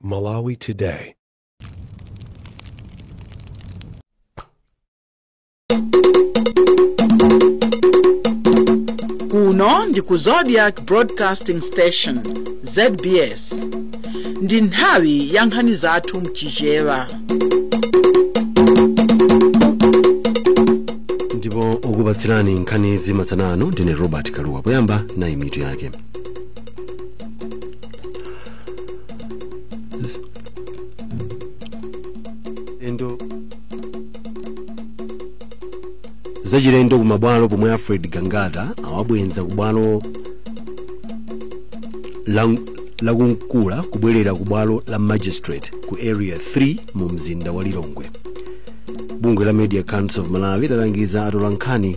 Malawi Today. kuno ndi ku zodiak broadcasting station zbs ndi nthawi ya nkhani zathu mchichewa ndipo okupatsirani nkhanizi masana ano ndine robert kalua poyamba nayi mitu yake zachilendo kumabwalo pomwe alfred gangata awabwenza kubwalo la mkukula kubwerera kubwalo la magistrate ku area 3 mu mzinda wa lilongwe bungwe la media council of malawi lalangiza atolankhani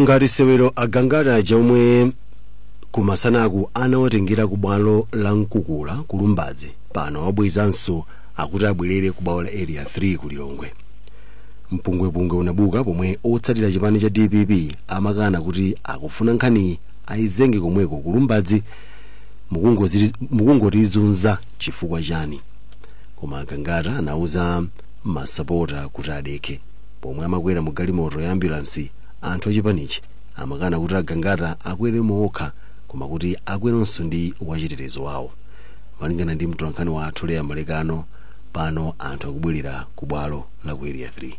ngati sewero agangata aja omwe kumasanaku anawatengera ku bwalo la mkukula ku lumbadzi pano wabwezanso akuti abwerere ku bwalo la area 3 ku lilongwe mpungwepungwe unabuka pomwe otsatira chipani cha dpp amakana kuti akufuna nkhaniyi ayizenge komweko kulumbadzi mukungotizunza chifukwa chani koma agangata anauza masapota kuti adekhe pomwe amakwera mu galimoto ya ambulansi anthu achipanichi amakana kuti agangata akwere mokha koma kuti akweronso ndi wachitetezo wawo malingana ndi mtolankhani wathu leah malekano pano anthu akubwerera ku bwalo la ku area 3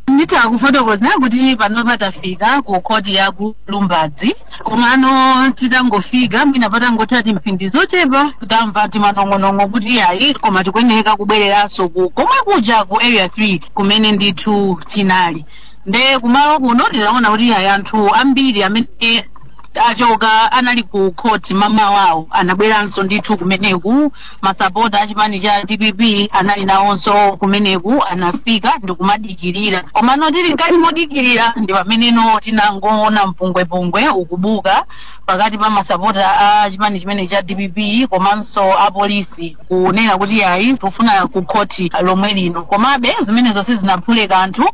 nditha kufotokoza kuti panopa tafika ku khoti ya ku lumbadzi komano titangofika mwina patangotha timphindi zochepa tamva timanong'onong'o kuti ayi koma tikuyeneka kubwereranso komwe kuja ku area 3 kumene ndithu tinali nde kumalo kuno tinaona kuti ayi anthu ambiri amene achoka anali ku khoti mamawawo anabweranso ndithu kumeneku masapota a chipani cha dpp anali nawonso kumeneku anafika ndikumadikirira komano tili mkati modikirira ndi pamenenso tinangoona mpungwepungwe ukubuka pakati pa masapota a chipani chimenechi cha dpp komanso apolisi kunena kuti ayi tikufuna ku khoti lomwe lino komabe zimenezo sizinaphule kanthu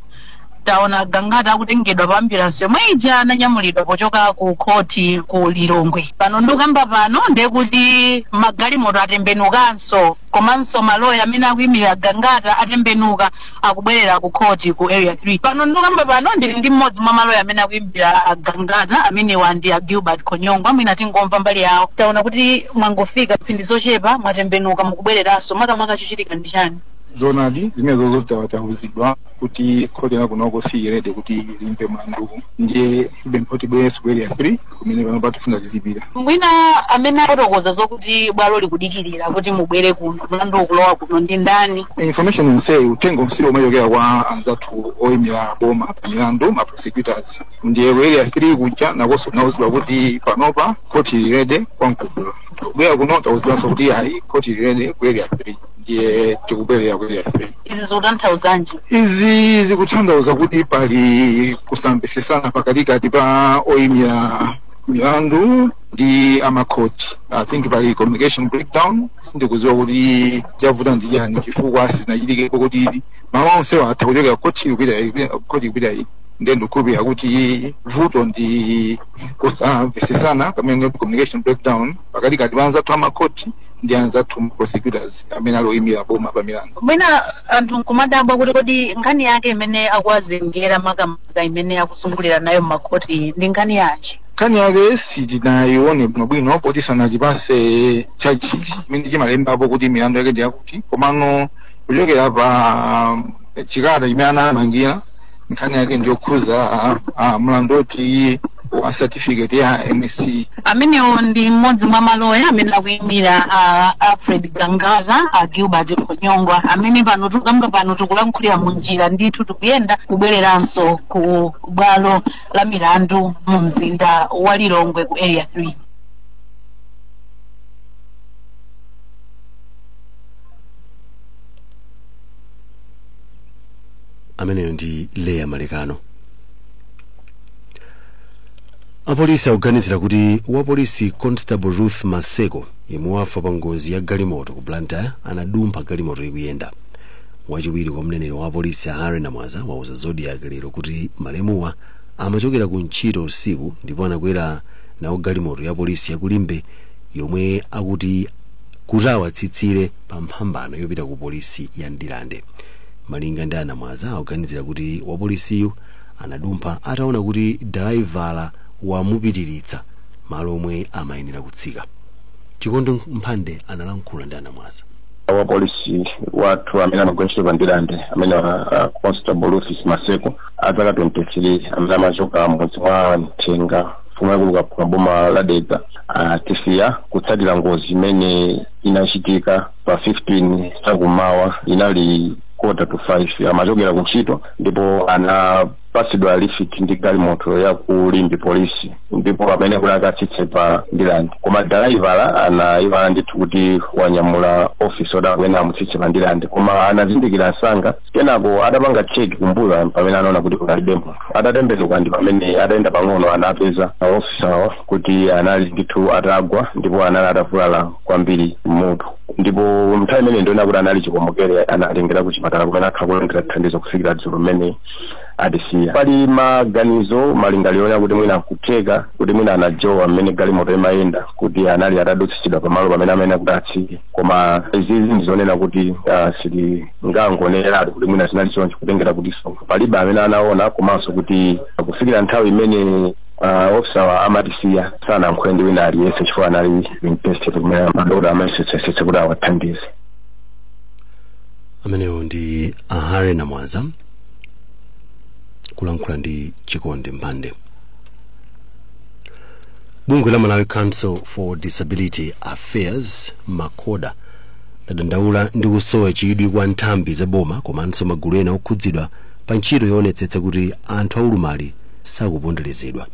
taona a gangata akutengedwa pa ambulansi yomwe ija ananyamulidwa pochoka ku khoti ku lilongwe pano ndikukamba pano ndiye kuti magalimoto atembenukanso komanso maloya amene akuyimirira a gangata atembenuka akubwerera ku khoti ku area 3 pano ndikukamba pano ndili ndi mmodzi mwa maloya amene akuyimirira a gangata amenewa ndi a gilbert khonyongwa mwina tingomva mbali yawo taona kuti mwangofika mphindi zochepa mwatembenuka mukubwereranso makamaka chochitika ndi chani zoonadi zimenezo tauzidwa kuti khoti la kunoko silili ready kuti limve mlanduwu ndiye apempha kuti tibwerenso ku area 3 kumene panopa tifuna tizipita mwina amene afotokoza zokuti bwalo likudikirira kuti mubwere kuno mlandu ukulowa kuno ndi ndani information yonseyi uthenga onsewu umachokera kwa anzathu oyimira boma pa milandu ma prosecutors ndiye ku area 3 kuja nakonso tinauzidwa kuti panopa khoti lili ready kwa mkukula kubwera kuno tauzidwanso kuti ayi khoti lili ready ku area 3 ndiye tikubwerera ku area 3 izi zikutanthauzanji izi zikutanthauza kuti pali kusamvesesana pakatikati pa oyimira milandu ndi amakhoti i think pali communication breakdown sindikuziwa kuti chavuta ndi chani chifukwa sizinachitikepo kuti maloya onsewa atha kuchoka khoti kupita khoti kupita iyi ndiye ndikukhulupirira kuti vuto ndi kusamvesesana pamene communication breakdown pakatikati pa anzathu amakhoti ndi anzathu ma prosecutors amene ali oyimira boma pa milandu. Mwina anthu nkumadabwa kuti kodi nkhani yake imene akuwazengera makamaka imene akuzungulira nayo m'makhoti iyi ndi nkhani yanji? Nkhani yake sitinayione bwinobwino poti sanatipase charge sheet chimene chimalembapo kuti milandu yake ndi yakuti komano kuchokera pa um, chikalata chimene anawamangira nkhani yake ndiyokhuza ah, ah, mlandu woti wa certificate ya msce amenewo ndi mmodzi mwa maloya amene akuyimira a alfred gangata a gilbert khonyongwa amene pano tikukamba pano tikulankhulira mu njira ndithu tikuyenda kubwereranso ku bwalo la milandu mu mzinda wa lilongwe ku area 3 ameneyo ndi leya malekano apolisi akuganizira kuti wapolisi constable ruth maseko yemwe wafa pa ngozi ya galimoto ku blantyre anadumpha galimoto ikuyenda wachiwiri kwa mneneri wa apolisi a harry namwaza wauza zodiak lero kuti malemuwa amachokera ku ntchito usiku ndipo anakwera nawo galimoto ya polisi ya ku limbe yomwe akuti ikawatsitsire pa mphambano yopita ku polisi ya ndirande Malinga ndi a Namwaza akuganizira kuti wapolisiyu anadumpha ataona kuti dalaivala wamupitiritsa malo omwe amayenera kutsika. Chikondi Mphande analankhula ndi a Namwaza. Wapolisi wathu amene amagwira ntchito pa Ndirande amene a Constable Rufus Maseko a zaka 23 amene amachoka m'mudzi mwa Mthenga mfumu yaikulu Kaphuka m'boma la Dedza atisiya kutsatira ngozi imene inachitika pa 15 chakumawa inali kota to 5 amachokera ku ntchito ndipo anapatsidwa lifiti ndi galimoto ya ku limbe polisi ndipo pamene kuti akatsitse pa ndilande koma dalaivala anaiwala ndithu kuti wanyamula ofisa oti amene amutsitse pa ndilande koma anazindikira msanga kenako adapanga cheki kumbuyo pamene anaona kuti kunalibe munthu atatembenuka ndi pamene atayenda pang'ono anapeza ofisa awo kuti anali ndithu atagwa ndipo anali atavulala kwambiri m'mutu ndipo nthawi imeneyi ndi yonena kuti anali chikomokere anatengera ku chipatala kumene akhala kulandira thandizo kufikira dzulo mmene atisiya pali maganizo malingaliro onena kuti mwina kutheka kuti mwina anajowa mmene galimoto imayenda kuti anali atadutsitsidwa pamalo pamene amene kuti atsike koma izizi ndizonena kuti ah, sitingangoneneratu kuti mwina zinali choncho kutengera kuti so palibe amene anaona komanso kuti kufikira nthawi imene Uh, ofisawa amatisiya sanalankhule ndi wina aliyense chifukwa anali interested kumene madokotala amayesetsayesetsa kuti awathandize amenewo ndi a harry namwaza kulankhula ndi chikondi mphande bungwe la malawi council for disability affairs macoda ladandaula ndi kusowa chidwi kwa nthambi za boma komanso magulu ena okhudzidwa pa ntchito yoonetsetsa kuti anthu aulumali sakuponderezedwa.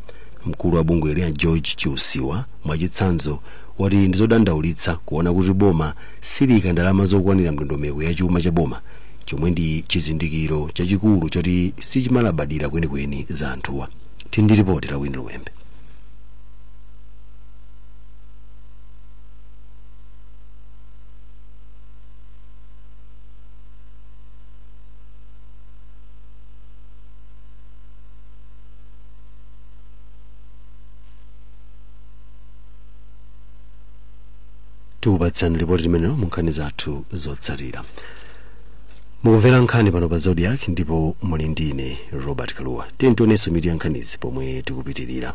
Mkulu wa bungweli a George Chiusiwa mwachitsanzo wati ndizodandaulitsa kuona kuti boma siliika ndalama zokwanira mndondomeko ya chuma cha boma chomwe ndi chizindikiro chachikulu choti sichimalabadira kwenikweni za anthuwa. Tili ndi lipoti la Winnie Luwembe. tikupatsani lipoti limenelo mu nkhani zathu zotsatira mukumvera nkhani pano pa zodiak ndipo muli ndine robert kaluwa tiyeni tionenso mitu ya nkhanizi pomwe tikupitirira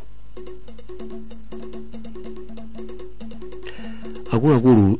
akuluakulu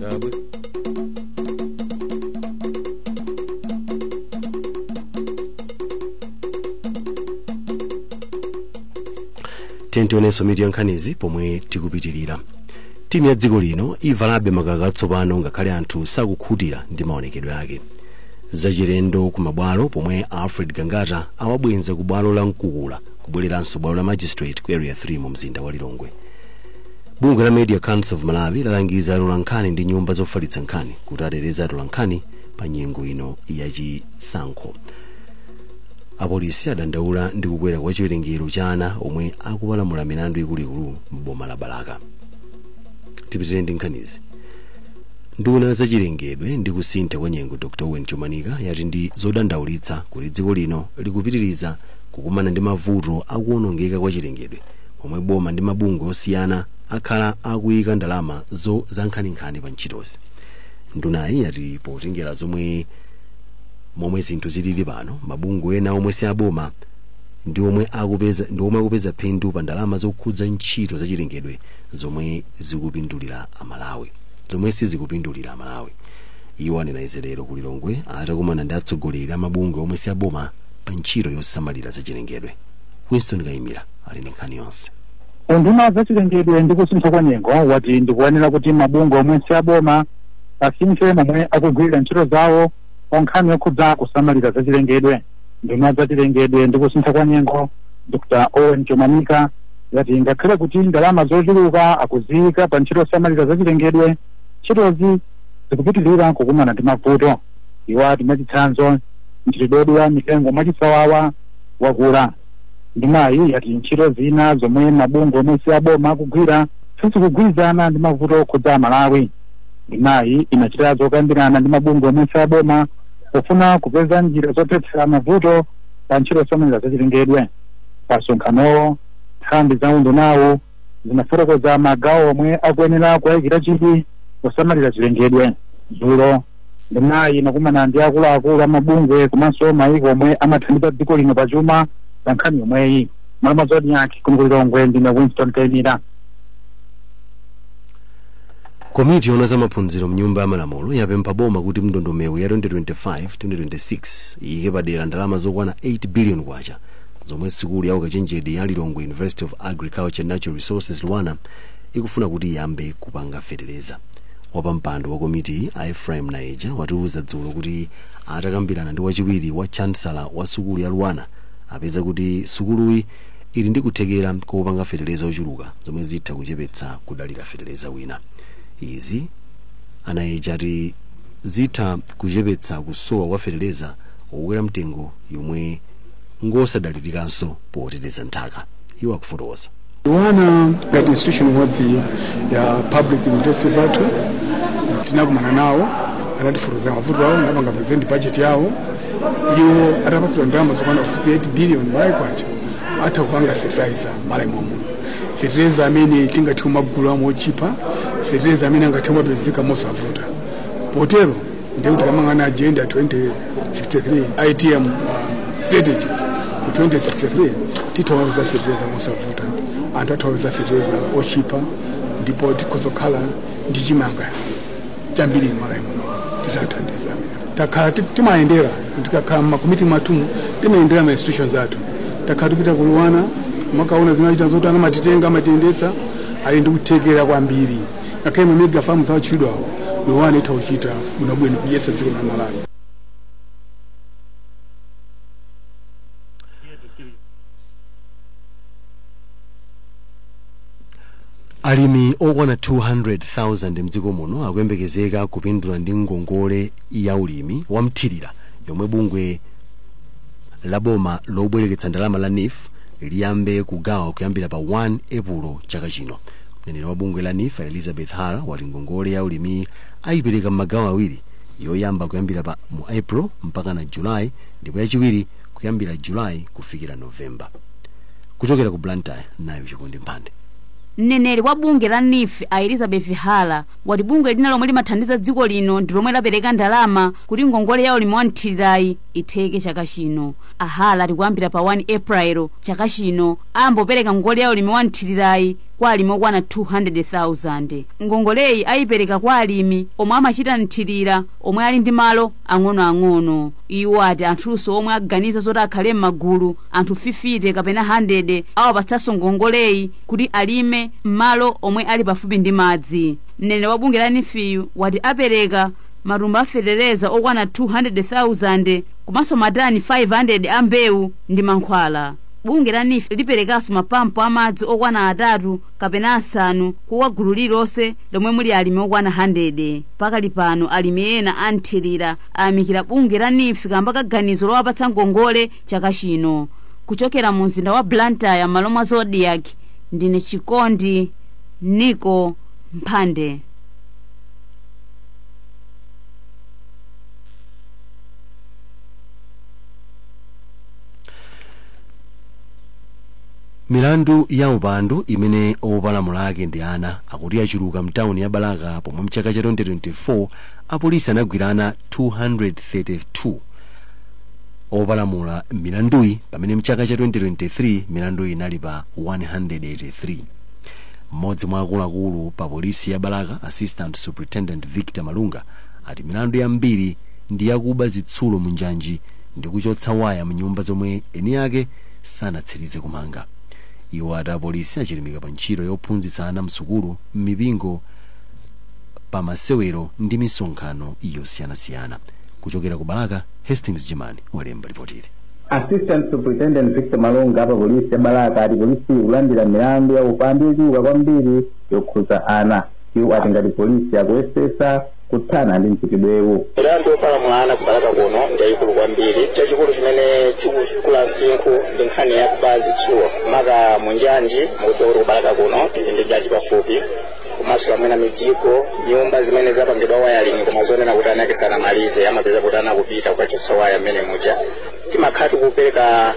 Tabwe. tionenso mitu ya nkhanizi pomwe tikupitirira timu ya dziko lino ivalabe makaka atsopano ngakhale anthu sakukhutira ndi maonekedwe ake zachilendo ku mabwalo pomwe alfred gangata awabweza ku bwalo la mkukula kubwereranso ku bwalo la magistrate ku area 3 mu mzinda wa lilongwe bungwe la media council of malawi lalangiza atola nkhani ndi nyumba zofalitsa nkhani kuti ateteze atola nkhani pa nyengo ino ya chisankho apolisi adandaula ndi kukwera kwa chiwerengero cha ana omwe akupalamula milandu ikuluikulu m'boma la balaka tipitirire ndi nkhanizi nduna ya zachilengedwe ndi kusintha kwa nyengo dr owen chomanika yati ndi zodandaulitsa kuti dziko lino likupitiriza kukumana ndi mavuto a kuwonongeka kwa chilengedwe pomwe boma ndi mabungwe osiyana akhala akuyika ndalama zankhaninkhani pa ntchitozi ndunayi yati potengera zomwe momwe zinthu zilili pano mabungwe ena omwe si aboma ndi omwe akupeza ndi omwe akupeza phindu pa ndalama zokhudza ntchito zachilengedwe zomwe zikupindulira amalawi zomwe sizikupindulira amalawi iwo anena izi lero ku lilongwe atakumana ndi atsogoleri a mabungwe omwe si aboma pa ntchito yosamalira zachilengedwe winston kayimira ali ndi nkhani yonse unduna wa zachilengedwe ndi kusintha kwa nyengo wati nkoyenera kuti mabungwe omwe si aboma asinthe momwe akugwirira ntchito zawo pa nkhani yokhudza kusamalira zachilengedwe nduna ya zachilengedwe ndi kusintha kwa nyengo dr owen chomanika yati ngakhale kuti ndalama zochuluka akuziyika pa ntchito yosamalira zachilengedwe ntchitozi zikupitirira kukumana ndi mavuto iwo ati mwachitsanzo mchitidwe wodula mitengo mwachisawawa wakula ndunayi yati ntchito zina zomwe mabungwe omwe si aboma akugwira sizikugwirizana ndi mavuto okhudza amalawi ndunayi inachita zokambirana ndi mabungwe omwe si aboma pofuna kupeza njira zothetsera mavuto pa ntchito zosamalira zachilengedwe pamsonkhanowo nthambi za undunawu zinafotokoza magawo omwe akuyenera kuwayikira chidwi posamalira chilengedwe dzulo ndunayi inakumana ndi akuluakulu amabungwe komanso mayiko omwe amathandiza dziko lino pa chuma pa nkhani yomweyi malawi zodiak kuno ku lilongwe ndine winston kayimira komiti yoona za maphunziro mnyumba ya malamulo yapempha boma kuti mu ndondomeko ya 2025-2026 iyike padera ndalama zokwana 8 billion kwacha zomwe sukulu ya ukachenjede ya lilongwe university of agriculture natural resources luanar ikufuna kuti iyambe kupanga feteleza wapampando wa komitiyi a ephraim nayeja watiuza dzulo kuti atakambirana ndi wachiwiri wa chancellor wa sukulu ya luanar apeza kuti sukuluyi ili ndi kuthekera kopanga feteleza ochuluka zomwe zitha kuchepetsa kudalira feteleza wina izi a nayeja ati zitha kuchepetsa kusowa kwa feteleza wokwera mtengo yomwe ngosadalirikanso poteteza nthaka iwo akufotokoza luanar ngati institution imodzi ya public university zathu tinakumana nawo anatifotokozera mavuto awo anapanga present budget yawo iwo atapatsidwa ndalama zokwana 58 billion malawi kwacha atha kupanga fertilizer m'malawi momuno fertilizer amene tingathe kumagula mochipa fertilizer amene angathe kumapezeka mosavuta potero ndiye kuti tikamayang'ana agenda 2063 atm um, strategy ku 2063 titha kupeza fertilizer mosavuta anthu atha kupeza fertilizer ochipa ndipo tikhoza kukhala ndi chimanga chambiri m'malawi muno tizathandiza takhala ti- timayendera tikakhala mmakomiti mwathumu timayendera ma institutions athu takhala tikupita ku luanar kumakaona zimene amachita ndipo amatitenga amatiyendetsa ali ndi kuthekera kwambiri ngakhale mamega famu akutchulidwawo luanar itha kuchita bwinobwino kudyetsa dziko la malawi alimi okwana 200,000 mdziko muno akuyembekezeka kupindula ndi ngongole ya ulimi wamthirira yomwe bungwe la boma lobwereketsa ndalama la neef liyambe kugawa kuyambira pa 1 epulo chaka chino mneneri wa bungwe la neef a elizabeth hara wati ngongole ya ulimiyi ayipereka m'magawo awiri yoyamba kuyambira pa mu april mpaka na julayi ndipo yachiwiri kuyambira julayi kufikira novemba kuchokera ku blantyre nayu chikondi mphande mneneri wa bungwe la neef a elizabeth hara wati bungwe lina lomwe limathandiza dziko lino ndi lomwe lapereka ndalama kuti ngongole ya ulimi wa mthirirayi itheke chaka chino a hara ati kuyambira pa 1 april chaka chino Ayamba kupereka ngongole ya ulimi wa mthirirayi kwa alimi okwana 200,000. Ngongoleyi ayipereka kwa alimi omwe amachita mthirira omwe ali ndi malo ang'onoang'ono. Iwo ati anthunso omwe aganiza zoti akhale m'magulu, anthu 50 kapena 100, awapatsanso ngongoleyi kuti alime m'malo omwe ali pafupi ndi madzi. Mneneri wa bungwe la NEEF-yu wati apereka matumba a fetereza okwana 200,000 komanso matani 500 a mbewu ndi mankhwala. bungwe la neef liperekanso mapampu amadzi okwana atatu kapena asanu kwa gulu lililonse lomwe muli alimi okwana 100 pakali pano alimi ena anthirira ayamikira bungwe la neef kamba ka ganizo lowapatsa ngongole chaka chino kuchokera mu mzinda wa blantyre m'malo mwa zodiak ndine chikondi niko mphande milandu ya upandu imene opalamula ake ndi ana akuti yachuluka mtawuni ya balaka pomwe mchaka cha 2024 apolisi anagwira ana 232 opalamula milanduyi pamene mchaka cha 2023 milanduyi inali pa 183 mmodzi mwa akuluakulu pa polisi ya balaka assistant superintendent victor malunga ati milandu yambiri ndi yakuba zitsulo munjanji ndi kuchotsa waya m'nyumba zomwe eni ake sanatsirize kumanga. Iwo ati apolisi achilimika pa ntchito yophunzitsa ana m'sukulu, m'mipingo, pa masewero ndi misonkhano yosiyanasiyana. Kuchokera ku Balaka, Hastings Jimani walemba lipotili. Assistant Superintendent Victor Malunga a pa polisi ya Balaka ati polisiyi ikulandira milandu ya upandu yochuluka kwambiri yokhudza ana. Iwo ati ngati polisi akuyesetsa kuthana ndi mchitidwewu. Milandu yopalamula ana ku Balaka kuno ndi yayikulu kwambiri. Chachikulu chimene chikukula msinkhu ndi nkhani ya kuba zitsulo maka mu njanji mukudziwa kuti ku Balaka kuno tili ndi njanji pafupi komanso mwina mijigo nyumba zimene zapangidwa wiring koma zonena kuti eni ake sanamalize amapeza kuti ana akupita kukachotsa waya mmene muja timakhala tikupereka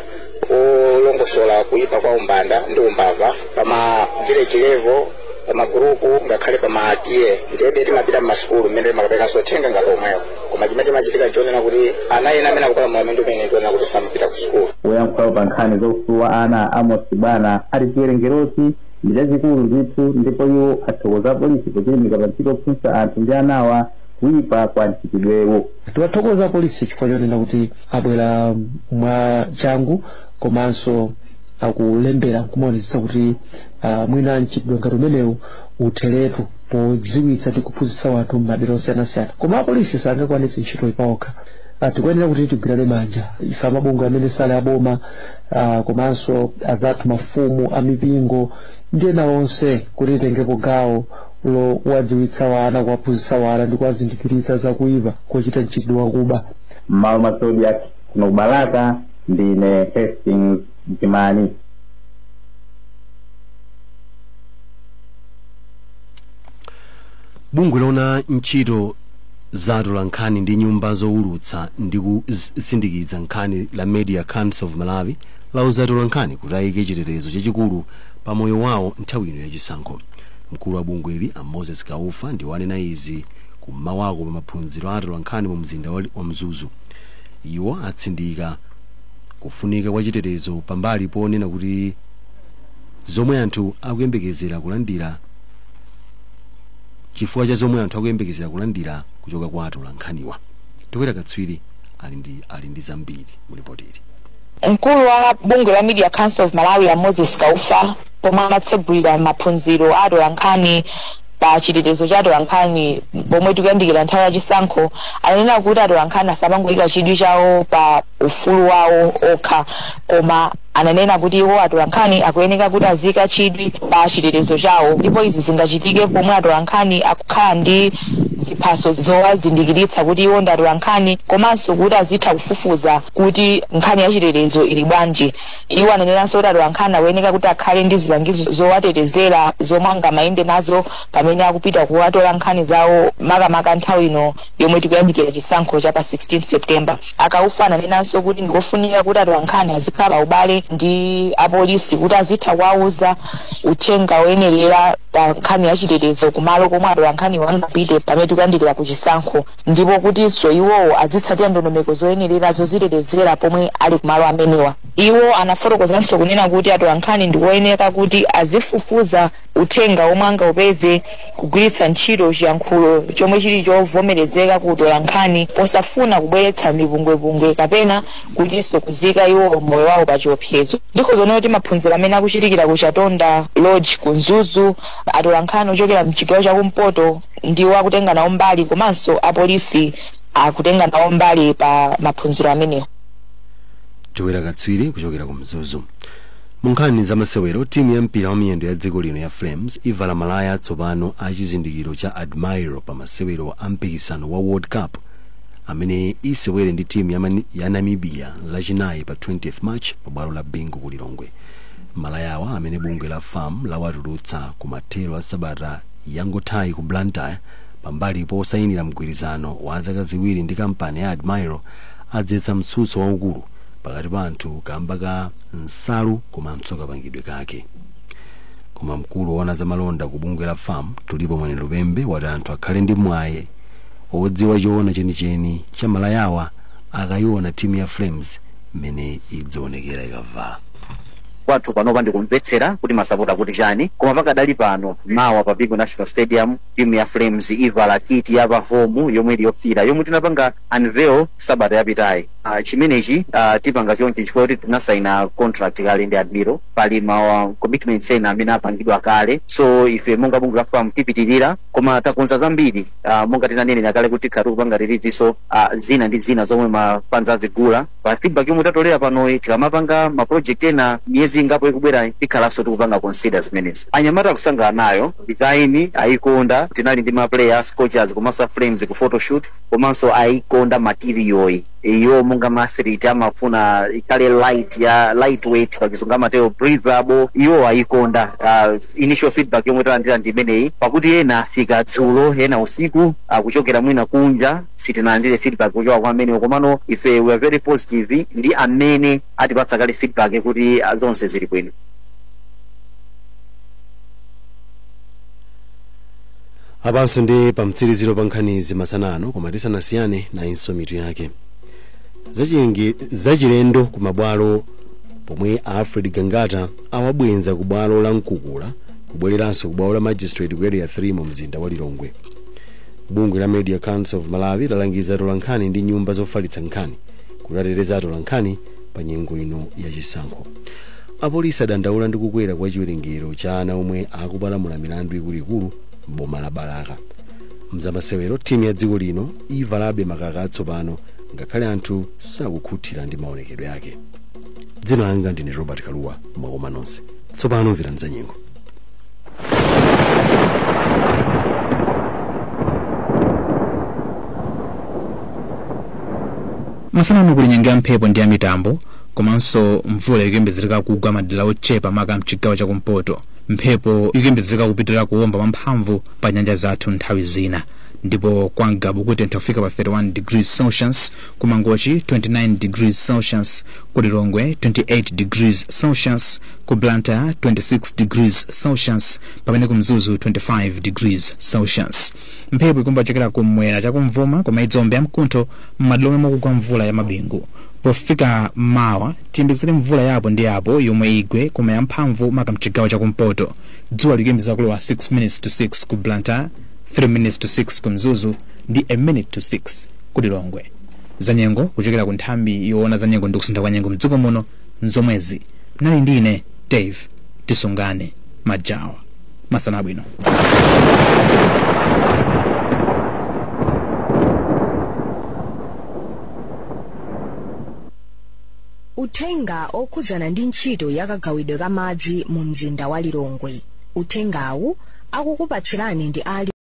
olongosola kuyipa kwa umbanda ndi umbava pa ma village level pamagurupu ngakhale pama TA ndiyebe timapita mmasukulu mmene timakapekanso uthenga ngati omwewo koma chimene chimachitika nchonena kuti ana ena amene akupalamula milandu imene ndi onena kuti samapita ku sukulu woyankhulawo pa nkhani za ufulu wa ana amos chibwana ati chiwerengerochi ndi chachikulu ndithu ndipo iwo athokoza polisi pochilimika pa ntchito yophunzitsa anthu ndi anawa kuipa kwa mchitidwewu tiwathokoza polisi chifukwa chonena kuti abwera mwa changu komanso akulembera kumaonetsetsa kuti uh, mwina mchitidwe ngati umenewu utheretu podziwitsa ndi kuphunzitsa wanthu m'madera osiyanasiyana koma apolisi sangakwanitse ntchitoyi pawokha uh, tikuyenera kuti tigwirane manja ife amabungwe amene sali aboma uh, komanso azathu mafumu amipingo ndi ena onse kuti titengepo gawo lokuwadziwitsa wana kuwaphunzitsa wana ndi kuwazindikiritsa zakuipa kochita mchitidwe wakuba m'malo mwa zodiak kuno ku balaka ndine hastings jimani bungwe loona ntchito za atolankhani ndi nyumba zowulutsa ndi kusindikiza nkhani la media council of malawi lauza atolankhani kuti ayike chitetezo chachikulu pa moyo wawo nthawi ino yachisankho mkulu wa bungweli a moses kaufa ndiwo anena izi kum'mawako pa maphunziro a atolankhani mu mzinda wa mzuzu iwo atsindika kufunika kwa chitetezo pambali ponena kuti zomwe anthu akuyembekezera kulandira chifukwa cha zomwe anthu akuyembekezera kulandira kuchoka kwa atolankhaniwa towera katswiri ali ndi zambiri mu lipoti ili mkulu wa bungwe la media council of malawi a moses kaufa pomwe amatsegulira maphunziro a atolankhani pa chitetezo cha atolankhani pomwe tikuyandikira nthawi ya chisankho ananena kuti atolankhani asamangoyika chidwi chawo pa ufulu wawo okha koma ananena kuti iwo atolankhani akuyeneka kuti aziyika chidwi pa chitetezo chawo ndipo izi zingachitike pomwe atolankhani akukhala ndi ziphaso zowazindikiritsa kuti iwo ndi atolankhani komanso kuti azitha kufufuza kuti nkhani ya chitetezo ili bwanji Iwo ananenanso kuti atolankhani akuyeneka kuti akhale ndi zipangizo zowatetezera zomwe angamayende nazo pamene akupita kukatola nkhani zawo makamaka nthawi ino yomwe tikuyandikira chisankho cha pa 16 September. A Kaufa ananenanso kuti ndikofunika kuti atolankhani azikhala pa ubale ndi apolisi kuti azitha kuwauza uthenga woyenerera pa nkhani ya chitetezo kumalo komwe atolankhaniwo angapite pamene tikuyandikira ku chisankho. ndipo kutinso iwowo azitsatira ndondomeko zoyenerera zodzitetezera pomwe ali kumalo amenewa. Iwo anafotokozanso kunena kuti atolankhani ndikoyeneka kuti azifufuza uthenga womwe angaupeze kugwiritsa ntchito chiyankhulo chomwe chili chovomerezeka ku utolankhani posafuna kubweretsa mipungwepungwe kapena kutinso kuziyika iwowo moyo wawo pa chiopsezo. Ndikhoza kunena kuti maphunziro amene akuchitikira ku Chatonda Lodge ku Mzuzu, atolankhani ochokera mchigawo chakumpoto, ndiwo akutenga nawo mbali komanso apolisi akutenga nawo mbali pa maphunziro amenewo towera katswiri kuchokera ku mzuzu mu nkhani za masewero timu ya mpira wa miyendo ya dziko lino ya flames ivala malaya atsopano a chizindikiro cha admiral pa masewero a mpikisano wa world cup amene isewere ndi timu ya namibia lachinayi pa 20th march pa bwalo la bingu ku lilongwe malayawa amene bungwe la fam lawatulutsa ku mathero a sabata yangothayi ku Blantyre pambali posainira mgwirizano wa zaka ziwiri ndi kampani ya Admiral adzetsa mtsutso waukulu pakati pa anthu kamba ka nsalu komanso kapangidwe kake. Koma mkulu woona za malonda ku bungwe la FAM, Tulipo Mwenelupembe wati anthu akhale ndi mwayi odziwa choona chenicheni cha malayawa akaiona timu ya Flames mmene idzionekera ikavala. kwathu panopa ndikumvetsera kuti masapota kuti chani koma pakadali pano mawa pa bingu national stadium timu ya flames ivala kiti ya pahomu yomwe ili yofira yomwe tinapanga unveil sabata yapitayi uh, chimenechi uh, tipanga chonchi chifukwa kuti tinasaina contract kale ndi Admiral pali ma uh, commitments ena amene apangidwa kale so ife monga bungwe la fam tipitirira koma takonza zambiri uh, monga tinanenera kale kuti tikhala tikupanga release so uh, zina ndi zina zomwe mafanzi azigula pa feedback yomwe tatolera panoyi tikamapanga ma project ena miyezi ingapo ikubwerayi tikhalanso tikupanga consider zimenezi anyamata akusangalala nayo design ayikonda tinali ndi ma player a scorchers komanso a flames ku photoshoot komanso ayikonda material yo iwo monga maathlete amafuna ikhale light ya lightweight pakizungu amatero breathable iwo ayikonda uh, initial feedback yomwe talandira ndi imeneyi pakuti ena afika dzulo ena usiku kuchokera mwina kunja sitinalandire feedback kuchoka kwa amenewo komano ife we are very positive ndi amene atipatsa kale feedback kuti ah, zonse zili bwino apanso ndi pamtsirizo pa nkhanizi masana ano koma tisanasiyane nayinso mitu yake zachilendo ku mabwalo pomwe alfred gangata awabwenza ku bwalo la mkukula kubwereranso ku bwalo la magistrate ku area 3 mu mzinda wa lilongwe Bungwe la Media Council of Malawi lalangiza atolankhani ndi nyumba zofalitsa nkhani kuti ateteze atolankhani pa nyengo ino ya chisankho. Apolisi adandaula ndi kukwera kwa chiwerengero cha ana omwe akupalamula milandu ikuluikulu m'boma la Balaka. M'zamasewero timu ya dziko lino ivalabe makaka atsopano ngakhale anthu sakukhutira ndi maonekedwe ake. Dzina langa ndine Robert Kaluwa mwakoma nonse. Tsopano mverani za nyengo. masana ano kuli nyengo ya mphepo ndi ya mitambo komanso mvula ikuyembezereka kugwa madera ochepa maka mchigawo chakumpoto mphepo ikuyembezereka kupitirira kuwomba mwamphamvu pa nyanja zathu nthawi zina ndipo kwa Ngabu kutentha kufika pa 31 degrees celsius ku mangochi 29 degrees celsius ku lilongwe 28 degrees celsius ku blantyre 26 degrees celsius pamene ku mzuzu 25 degrees celsius mphepo ikuomba kuchokera ku mwera chakumvuma koma idziomba yamkuntho m'madera omwe mukugwa mvula ya mabingu pofika mawa tiyembekezere mvula yapo ndi yapo yomwe igwe koma yamphamvu maka mchigawo chakumpoto dzuwa likuyembekezeka kulowa 6 minutes to 6 ku blantyre 3 minutes to 6 ku mzuzu ndi a minute to 6 ku Lilongwe. Zanyengo kuchokera ku nthambi yoona zanyengo ndi kusintha kwa nyengo mdziko muno nzomwezi. Munali ndi ine Dave Tisungane Majawa. Masana abwino. Uthenga okhudzana ndi ntchito ya kagawidwe ka madzi mu mzinda wa Lilongwe. Uthengawu akukupatsirani ndi ali